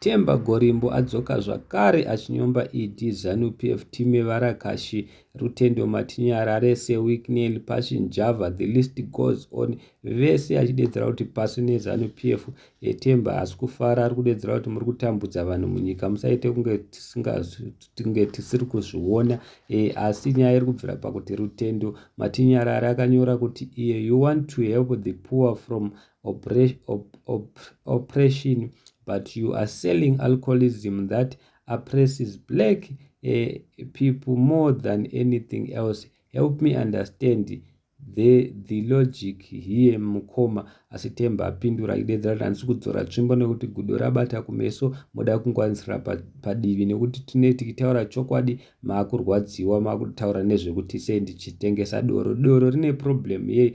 Themba Gorimbo adzoka zvakare achinyomba ED Zanu-PF Time Varakashi, Rutendo Matinyarare, Sir Wicknell, Passion Java, the list goes on. Vese achidedzera kuti pasi neZanu-PF. Themba haasi kufara, ari kudedzera kuti muri kutambudza vanhu munyika, musaite kunge tisinge tisiri kuzviona. E, asi nyaya iri kubvira pakuti Rutendo Matinyarare akanyora kuti iye you want to help the poor from oppression but you are selling alcoholism that oppresses black uh, people more than anything else help me understand the, the logic here mukoma asi temba apindura idedzera tanisi kudzora tsvimbo nekuti gudo rabata kumeso moda kungwanisira padivi nekuti tine tikitaura chokwadi maakurwadziwa maakutaura nezvekuti sei ndichitengesa doro doro rine problem yei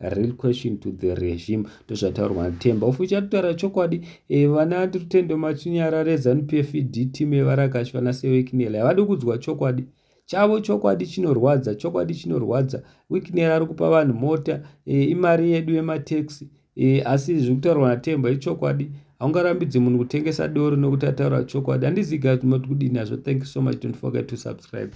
real question to the regime ndozvataurwa natemba ofu uchatotaura chokwadi e, vana rutendo machinyara rezanupf ed team yevarakashi vana sewiknel havadi kudzwa chokwadi chavo chokwadi chinorwadza chokwadi chinorwadza wiknel ari kupa vanhu mota e, imari yedu yemateksi e, asi zviri kutaurwa natemba ichokwadi haungarambidzi munhu kutengesa doro nokuti ataura chokwadi handiziga kuti moti kudini nazvo thank you so much don't forget to subscribe